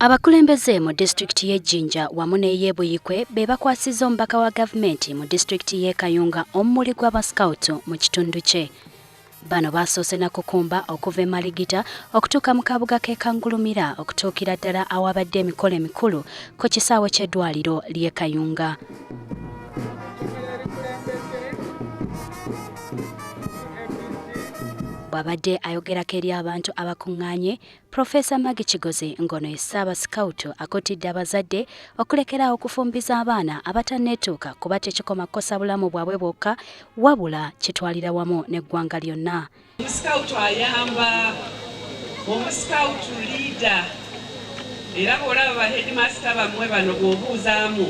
Abakulembeze mu disitulikiti y'e Jinja wamu n'ey'e Buyikwe be bakwasizza omubaka wa gavumenti mu disitulikiti y'e Kayunga omumuli gw'abasikawutu mu kitundu kye. Bano baasoose na kukumba okuva e Maligita okutuuka mu kabuga k'e Kangulumira okutuukira ddala awaabadde emikolo emikulu ku kisaawe ky'eddwaliro ly'e Kayunga. bw'abadde ayogerako eri abantu abakuŋŋaanye Profesa Magi Kigozi ng'ono ye Ssaaba Sikawutu akutidde abazadde okulekeraawo okufumbiza abaana abatanneetuuka kuba tekikoma kukosa bulamu bwabwe bwokka wabula kitwalira wamu n'eggwanga lyonna. Omusikawutu ayamba omusikawutu liida era bw'olaba ba heedimasita bammwe bano bw'obuuzaamu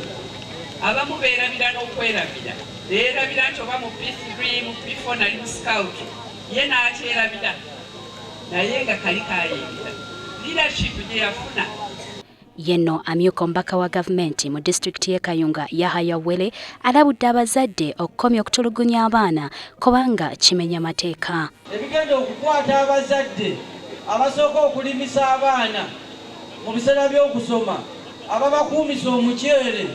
abamu beerabira n'okwerabira beerabira nti oba mu p3 mu p4 nali musikawutu ye n'akyerabira naye nga kali kayingira leadership gye yafuna Yenno amyuka omubaka wa gavumenti mu disitulikiti y'e Kayunga Yahaya Wele alabudde abazadde okukomya okutulugunya abaana kubanga kimenya mateeka. Ebigenda okukwata abazadde abasooka okulimisa abaana mu biseera by'okusoma, ababakuumisa omuceere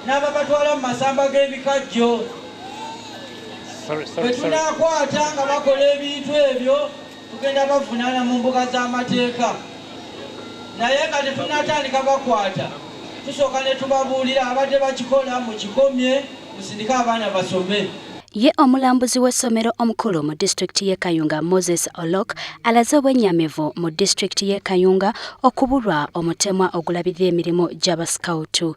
n'ababatwala mu masamba g'ebikajjo bwe tunaakwata nga bakola ebintu ebyo tugenda bavunaana mu mbuga z'amateeka naye nga tetunatandika bakwata tusooka ne tubabuulira abadde bakikola mu kikomye musindike abaana basome ye omulambuzi w'essomero omukulu mu disitulikiti y'e kayunga moses olok alaze obwennyamivu mu disitulikiti y'e kayunga okubulwa omutemwa ogulabirira emirimu gy'abasikawutu